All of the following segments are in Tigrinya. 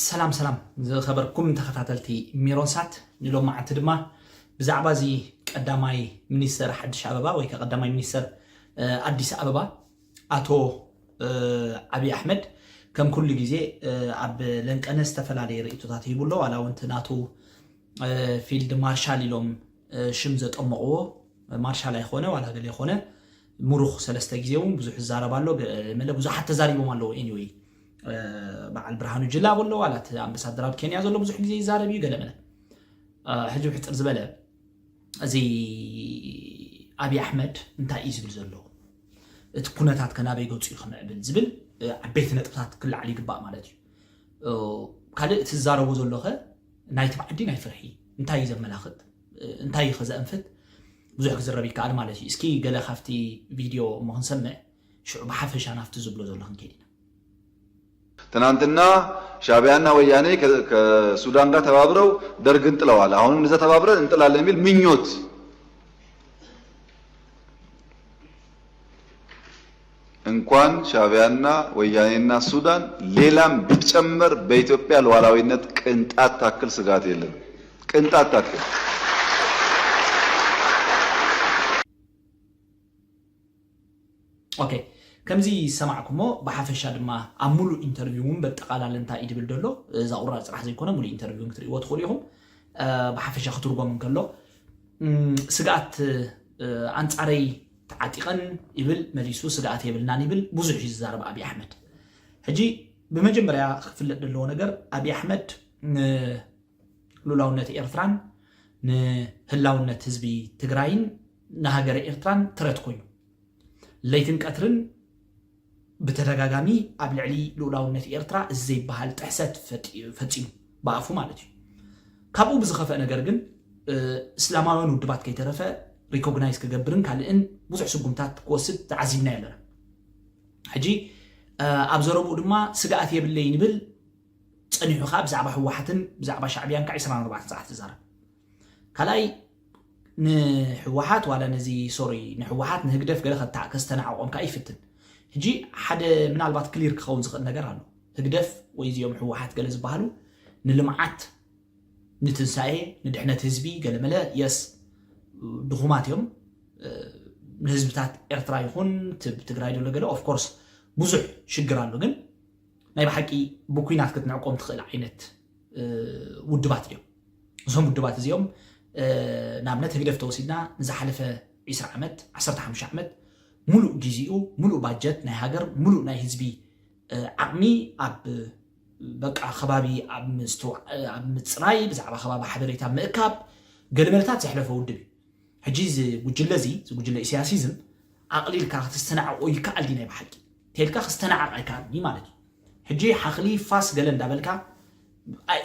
ሰላም ሰላም ዝኸበርኩም ተኸታተልቲ ሜሮንሳት ንሎም መዓልቲ ድማ ብዛዕባ እዚ ቀዳማይ ሚኒስተር ሓድሽ ኣበባ ወይ ከ ቀዳማይ ሚኒስተር ኣዲስ ኣበባ ኣቶ ዓብዪ ኣሕመድ ከም ኩሉ ግዜ ኣብ ለንቀነ ዝተፈላለየ ርእቶታት ሂቡ ኣሎ ዋላ እውን ናቱ ፊልድ ማርሻል ኢሎም ሽም ዘጠመቕዎ ማርሻል ኣይኮነ ዋላ ገለ ይኮነ ሙሩኽ ሰለስተ ግዜ ውን ብዙሕ ዝዛረብ ኣሎ መለ ብዙሓት ተዛሪቦም ኣለዉ ኤኒወይ በዓል ብርሃኑ ጅላ ብሎ ዋላ እቲ ኣምበሳደር ኣብ ኬንያ ዘሎ ብዙሕ ግዜ ይዛረብ እዩ ገለመለ ሕጂ ብሕፅር ዝበለ እዚ ኣብዪ ኣሕመድ እንታይ እዩ ዝብል ዘሎ እቲ ኩነታት ከናበይ ገፁ እዩ ክምዕብል ዝብል ዓበይቲ ነጥብታት ክላዓል ይግባእ ማለት እዩ ካልእ እቲ ዝዛረቦ ዘሎኸ ናይቲ ብዓዲ ናይ ፍርሒ እንታይ እዩ ዘመላኽት እንታይ እዩ ከዘእንፍት ብዙሕ ክዝረብ ይከኣል ማለት እዩ እስኪ ገለ ካብቲ ቪድዮ እሞ ክንሰምዕ ሽዑ ብሓፈሻ ናብቲ ዝብሎ ዘሎ ክንከይድ ኢና። ትናንትና ሻቢያ እና ወያኔ ከሱዳን ጋር ተባብረው ደርግን ጥለዋል አሁንም እንደዛ ተባብረን እንጥላለን የሚል ምኞት እንኳን ሻቢያና ወያኔና ሱዳን ሌላም ቢጨመር በኢትዮጵያ ሉዓላዊነት ቅንጣት ታክል ስጋት የለንም ቅንጣት ታክል። ኦኬ ከምዚ ዝሰማዕኩሞ ብሓፈሻ ድማ ኣብ ሙሉእ ኢንተርቪው እውን በጠቓላለ እንታይ እዩ ድብል ደሎ እዛ ቁራር ፅራሕ ዘይኮነ ሙሉእ ኢንተርቪው ክትርእይዎ ትኽእሉ ኢኹም ብሓፈሻ ክትርጎም እንከሎ ስግኣት ኣንፃረይ ተዓጢቐን ይብል መሊሱ ስግኣት የብልናን ይብል ብዙሕ እዩ ዝዛረብ ኣብይ ኣሕመድ ሕጂ ብመጀመርያ ክፍለጥ ዘለዎ ነገር ኣብይ ኣሕመድ ንሉላውነት ኤርትራን ንህላውነት ህዝቢ ትግራይን ንሃገረ ኤርትራን ትረት ኮይኑ ለይትን ቀትርን ብተደጋጋሚ ኣብ ልዕሊ ልኡላውነት ኤርትራ እዚ ዘይበሃል ጥሕሰት ፈጺሙ፣ ብኣፉ ማለት እዩ። ካብኡ ብዝኸፍእ ነገር ግን እስላማውያን ውድባት ከይተረፈ ሪኮግናይዝ ክገብርን ካልእን ብዙሕ ስጉምታት ክወስድ ተዓዚብናዮ ኣለና። ሕጂ ኣብ ዘረብኡ ድማ ስግኣት የብለይን ይብል፣ ጸኒሑ ከኣ ብዛዕባ ህወሓትን ብዛዕባ ሻዕብያን ከኣ ዕስራን ኣርባዕተን ሰዓት ይዛረብ። ካልኣይ ንሕወሓት ዋላ ነዚ ሶሪ ንሕወሓት ንህግደፍ ገለ ከታ ከስተናዕቆም ከኣ ይፍትን ሕጂ ሓደ ምናልባት ክሊር ክኸውን ዝኽእል ነገር ኣሎ ህግደፍ ወይ እዚኦም ሕወሓት ገለ ዝበሃሉ ንልምዓት ንትንሳኤ ንድሕነት ህዝቢ ገለመለ የስ ድኹማት እዮም ንህዝብታት ኤርትራ ይኹን ትግራይ ዘሎ ገለ ኦፍኮርስ ብዙሕ ሽግር ኣሎ ግን ናይ ብሓቂ ብኩናት ክትንዕቆም ትኽእል ዓይነት ውድባት እዮም እዞም ውድባት እዚኦም ንኣብነት ህግደፍ ተወሲድና ንዝሓለፈ 20 ዓመት 15 ዓመት ሙሉእ ግዜኡ ሙሉእ ባጀት ናይ ሃገር ሙሉእ ናይ ህዝቢ ዓቕሚ ኣብ በቃ ከባቢ ኣብ ምፅራይ ብዛዕባ ከባቢ ሓበሬታ ምእካብ ገለመለታት ዘሕለፈ ውድብ እዩ ሕጂ እዚ ጉጅለ እዚ እዚ ጉጅለ ኢሳያሲዝም ኣቕሊልካ ክትስተናዕቆ ይከኣል ድዩ ናይ ብሓቂ ተልካ ክስተናዓቕ ኣይከኣልን እዩ ማለት እዩ ሕጂ ሓኽሊ ፋስ ገለ እንዳበልካ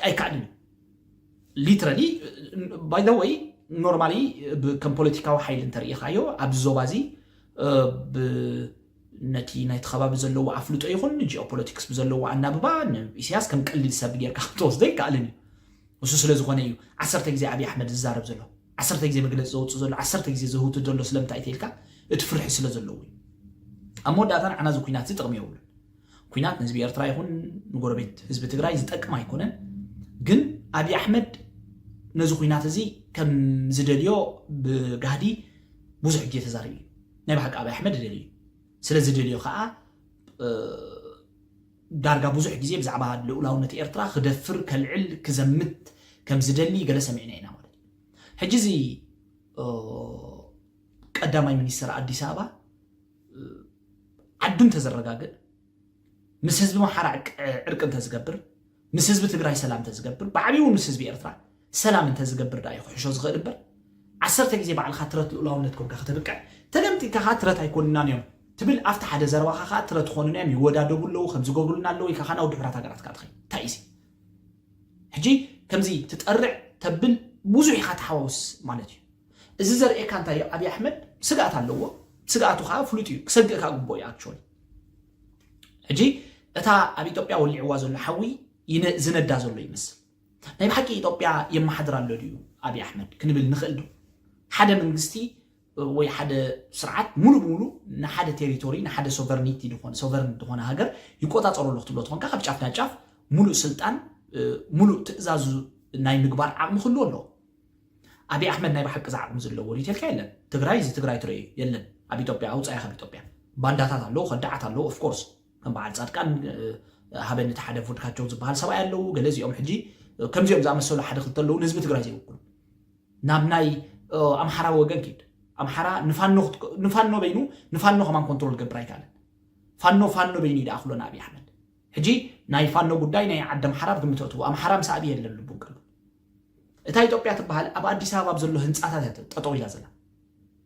ኣይከኣልን እዩ ሊትራሊ ባይ ዘ ወይ ኖርማሊ ከም ፖለቲካዊ ሓይሊ እንተርእኻዮ ኣብዚ ዞባ እዚ ነቲ ናይቲ ከባቢ ዘለዎ ኣፍልጦ ይኹን ጂኦፖለቲክስ ብዘለዎ ኣናብባ ንኢሳያስ ከም ቀሊል ሰብ ጌርካ ክትወስዶ ይከኣልን እዩ እሱ ስለ ዝኾነ እዩ ዓሰርተ ግዜ ኣብይ ኣሕመድ ዝዛረብ ዘሎ ዓሰርተ ግዜ መግለፂ ዘውፅእ ዘሎ ዓሰርተ ግዜ ዘህውትት ዘሎ ስለምንታይ ተልካ እቲ ፍርሒ ስለ ዘለዎ እዩ ኣብ መወዳእታ ንዓና እዚ ኩናት እዚ ጥቕሚ የብሉን ኩናት ንህዝቢ ኤርትራ ይኹን ንጎረቤት ህዝቢ ትግራይ ዝጠቅም ኣይኮነን ግን ኣብይ ኣሕመድ ነዚ ኩናት እዚ ከም ዝደልዮ ብጋህዲ ብዙሕ ግዜ ተዛሪቡ እዩ ናይ ብሓቂ ኣብይ ኣሕመድ ደልዩ ስለ ዝደልዮ ከዓ ዳርጋ ብዙሕ ግዜ ብዛዕባ ልኡላውነት ኤርትራ ክደፍር፣ ከልዕል፣ ክዘምት ከም ዝደሊ ገለ ሰሚዕና ኢና ማለት እዩ። ሕጂ እዚ ቀዳማይ ሚኒስተር ኣዲስ ኣበባ ዓዱ እንተዘረጋግእ ምስ ህዝቢ ኣምሓራ ዕርቂ እንተዝገብር ምስ ህዝቢ ትግራይ ሰላም እንተዝገብር ብዓብኡ ምስ ህዝቢ ኤርትራ ሰላም እንተ ዝገብር ድኣ እዩ ክሕሾ ዝኽእል እምበር ዓሰርተ ግዜ ባዕልኻ ትረት ልኡላውነት ኮንካ ከተብቅዕ ተገምጢልካ ከኣ ትረት ኣይኮኑናን እዮም ትብል ኣብቲ ሓደ ዘረባኻ ከኣ ትረት ኾኑና እዮም ይወዳደቡ ኣለዉ ከምዚ ይገብሩልና ኣለዉ ኢልካ ከኣ ናብ ድሑራት ሃገራት ከኣ ትኸይድ እንታይ እዩ ሕጂ ከምዚ ትጠርዕ ተብል ብዙሕ ኢኻ ተሓዋውስ ማለት እዩ እዚ ዘርእየካ እንታይ እዩ ኣብዪ ኣሕመድ ስግኣት ኣለዎ ስግኣቱ ከዓ ፍሉጥ እዩ ክሰግእ ከዓ ግቦ እዩ ኣክቹዋሊ ሕጂ እታ ኣብ ኢትዮጵያ ወሊዕዋ ዘሎ ሓዊ ዝነዳ ዘሎ ይመስል ናይ ብሓቂ ኢጦጵያ የማሓድር ኣሎ ድዩ ኣብይ ኣሕመድ ክንብል ንክእል ዶ? ሓደ መንግስቲ ወይ ሓደ ስርዓት ሙሉእ ብሙሉ ንሓደ ቴሪቶሪ ንሓደ ሶቨርኒቲ ድኮነ ሶቨርን ድኮነ ሃገር ይቆጻጸሮ ኣሎ ክትብሎ ተኮንካ ካብ ጫፍ ናብ ጫፍ ሙሉእ ስልጣን ሙሉእ ትእዛዙ ናይ ምግባር ዓቅሚ ክህልዎ ኣለዎ። ኣብይ ኣሕመድ ናይ ብሓቂ እዚ ዓቅሚ እዚ ኣለዎ ድዩ ተልካ የለን። ትግራይ እዚ ትግራይ ትረእዩ የለን ኣብ ኢጦጵያ ኣውጻያ ካብ ኢጦጵያ ባንዳታት ኣለዉ ከዳዓት ኣለዉ ኦፍኮርስ። ከም በዓል ጻድቃን ሃበኒ እቲ ሓደ ቮድካቸው ዝበሃል ሰብኣይ ኣለዉ ገለ እዚኦም ሕጂ ከምዚኦም ዝኣመሰሉ ሓደ ክልተ ኣለዉ ንህዝቢ ትግራይ ዘይውክሉ ናብ ናይ ኣምሓራ ወገን ኪድ ኣምሓራ ንፋኖ በይኑ ንፋኖ ከማን ኮንትሮል ገብር ኣይከኣለን ፋኖ ፋኖ በይኑ ይደኣ ክሎና ኣብዪ ኣሕመድ ሕጂ ናይ ፋኖ ጉዳይ ናይ ዓዲ ኣምሓራ ኣብ ግምት ኣእትዎ ኣምሓራ ምስ ኣብዪ የለን ልቡን ቀሉ እታ ኢትዮጵያ ትበሃል ኣብ ኣዲስ ኣበባ ኣብ ዘሎ ህንፃታት እያ ጠጠው ኢላ ዘላ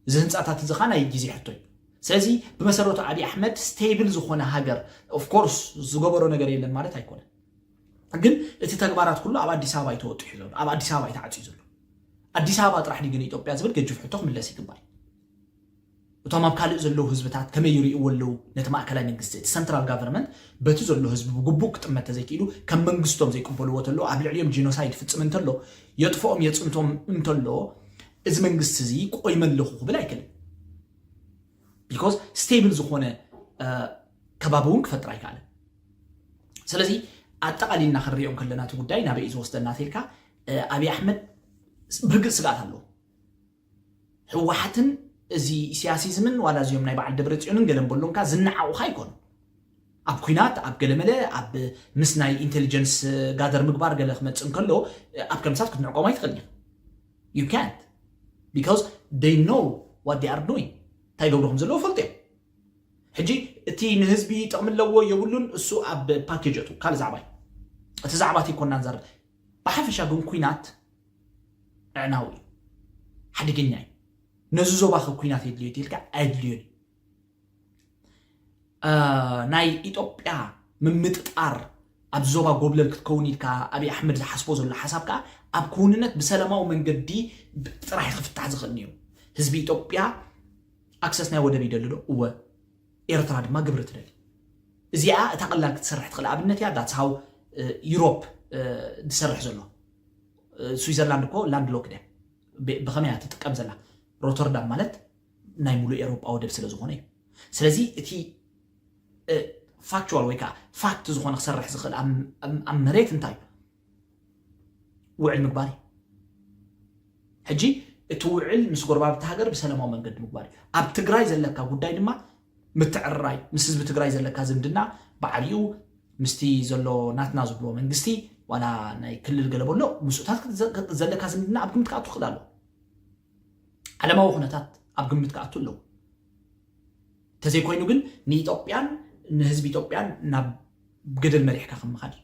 እዚ ህንፃታት እዚ ኸዓ ናይ ግዜ ሕቶ እዩ ስለዚ ብመሰረቱ ኣብዪ ኣሕመድ ስቴብል ዝኾነ ሃገር ኦፍኮርስ ዝገበሮ ነገር የለን ማለት ኣይኮነን ግን እቲ ተግባራት ኩሉ ኣብ ኣዲስ ኣበባ እዩ ተወጢሑ ዘሎ ኣብ ኣዲስ ኣበባ እዩ ተዓፅዩ ዘሎ ኣዲስ ኣበባ ጥራሕ ድዩ ግን ኢትዮጵያ ዝብል ገጅፍ ሕቶ ክምለስ ይግባል እቶም ኣብ ካልእ ዘለዉ ህዝብታት ከመይ ይርእይዎ ኣለዉ ነቲ ማእከላይ መንግስቲ? እቲ ሰንትራል ጋቨርመንት በቲ ዘሎ ህዝቢ ብግቡእ ክጥመት ተዘይክኢሉ ከም መንግስቶም ዘይቅበልዎ ተሎ ኣብ ልዕሊኦም ጂኖሳይድ ይፍጽም እንተሎ የጥፍኦም የጽንቶም እንተሎ እዚ መንግስቲ እዚ ቆይመ ኣለኹ ክብል ኣይክእልን ቢኮዝ ስቴብል ዝኾነ ከባቢ እውን ክፈጥር ኣይከኣልን ስለዚ ኣጠቓሊልና ክንሪኦ ከለና እቲ ጉዳይ ናበይ እዩ ዝወስደና ተልካ ኣብዪ ኣሕመድ ብርግፅ ስግኣት ኣለዎ ህወሓትን እዚ ኢሲያሲዝምን ዋላ እዚኦም ናይ በዓል ደብረፅዮንን ገለን በሉን ከኣ ዝነዓቑኻ ኣይኮኑን። ኣብ ኩናት ኣብ ገለመለ ኣብ ምስ ናይ ኢንቴሊጀንስ ጋደር ምግባር ገለ ክመፅእ እንከሎ ኣብ ከምሳት ክትንዕቆም ኣይትኽእልን ኢኻ ዩ ካንት ቢካዝ ደይ ኖ ዋት ዴይ ኣር ዱዊንግ እንታይ ይገብሩ ከም ዘለዎ ፈልጡ እዮም ሕጂ እቲ ንህዝቢ ጥቕሚ ኣለዎ የብሉን እሱ ኣብ ፓኬጅ እቱ ካልእ ዛዕባ እዩ እቲ ዛዕባ እቲ ኮና ንዛረብ ብሓፈሻ ግን ኩናት ምዕናው እዩ ሓደገኛ እዩ ነዚ ዞባ ከ ኩናት የድልዮ ድልካ ኣየድልዮን እዩ ናይ ኢትዮጵያ ምምጥጣር ኣብ ዞባ ጎብለል ክትከውን ኢልካ ኣብይ ኣሕመድ ዝሓስቦ ዘሎ ሓሳብ ከዓ ኣብ ክውንነት ብሰላማዊ መንገዲ ጥራሕ ክፍታሕ ዝኽእል ነይሩ ህዝቢ ኢትዮጵያ ኣክሰስ ናይ ወደብ ይደሊ ዶ እወ ኤርትራ ድማ ግብሪ ትደሊ እዚኣ እታ ቀላል ክትሰርሕ ትኽእል ኣብነት እያ ዳትስ ሃው ዩሮፕ ዝሰርሕ ዘሎ ስዊዘርላንድ እኮ ላንድ ሎክድ እያ ብከመይ እያ ትጥቀም ዘላ ሮተርዳም ማለት ናይ ሙሉእ ኤሮጳ ወደብ ስለ ዝኾነ እዩ ስለዚ እቲ ፋክቹዋል ወይ ከዓ ፋክት ዝኾነ ክሰርሕ ዝኽእል ኣብ መሬት እንታይ እዩ ውዕል ምግባር እዩ ሕጂ እቲ ውዕል ምስ ጎረባብቲ ሃገር ብሰላማዊ መንገዲ ምግባር እዩ ኣብ ትግራይ ዘለካ ጉዳይ ድማ ምትዕርራይ ምስ ህዝቢ ትግራይ ዘለካ ዝምድና ብዓቢኡ ምስቲ ዘሎ ናትና ዝብልዎ መንግስቲ ዋላ ናይ ክልል ገለ በሎ ምስኡታት ዘለካ ዝምድና ኣብ ግምት ክኣቱ ክእል ኣለዎ ዓለማዊ ኩነታት ኣብ ግምት ክኣቱ ኣለዎ እንተዘይኮይኑ ግን ንኢትዮጵያን ንህዝቢ ኢትዮጵያን ናብ ገደል መሪሕካ ከም ምኻድ እዩ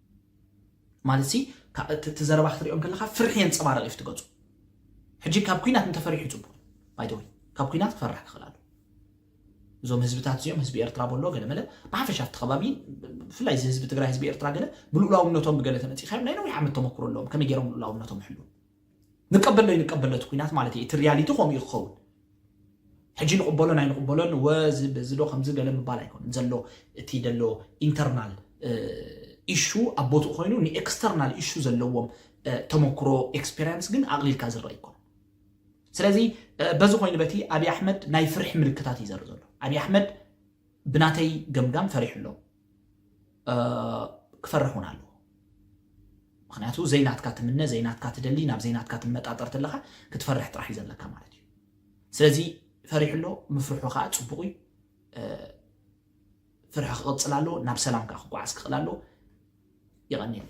ማለትሲ እቲ ዘረባ ክትሪኦ እንከለኻ ፍርሒ የንጸባርቕ እዩ ትገጹ ሕጂ ካብ ኩናት እንተፈሪሑ ጽቡቕ ባይተወይ ካብ ኩናት ክፈራሕ ክኽእል ኣሎ እዞም ህዝብታት እዚኦም ህዝቢ ኤርትራ በሎ ገለመለ ብሓፈሻ እቲ ከባቢ ብፍላይ እዚ ህዝቢ ትግራይ ህዝቢ ኤርትራ ገለ ብልኡላውነቶም ብገለ ተመፂእካዮም ናይ ነዊሕ ዓመት ተመክሮ ኣለዎም ከመይ ገይሮም ልኡላውነቶም ይሕልው ንቀበሎ ኣይንቀበሎ እቲ ኩናት ማለት እየ እቲ ሪያሊቲ ከምኡ እዩ ክኸውን ሕጂ ንቕበሎን ኣይንቕበሎን ወ እዚ በዚ ዶ ከምዚ ገለ ምባል ኣይኮነን ዘሎ እቲ ደሎ ኢንተርናል ኢሹ ኣብ ቦትኡ ኮይኑ ንኤክስተርናል ኢሹ ዘለዎም ተመክሮ ኤክስፔሪንስ ግን ኣቕሊልካ ዝረአ ይኮነ ስለዚ በዚ ኮይኑ በቲ ኣብዪ ኣሕመድ ናይ ፍርሒ ምልክታት እዩ ዘርኢ ዘሎ ኣብዪ ኣሕመድ ብናተይ ገምጋም ፈሪሑ ኣሎ ክፈርሕ እውን ኣለዎ ምክንያቱ ዘይናትካ ትምነ ዘይናትካ ትደሊ ናብ ዘይናትካ ትመጣጠር ተለካ ክትፈርሕ ጥራሕ እዩ ዘለካ ማለት እዩ ስለዚ ፈሪሑ ኣሎ ምፍርሑ ከዓ ፅቡቅ እዩ ፍርሒ ክቅፅል ኣለዎ ናብ ሰላም ከዓ ክጓዓዝ ክኽእል ኣለዎ ይቀኒየሉ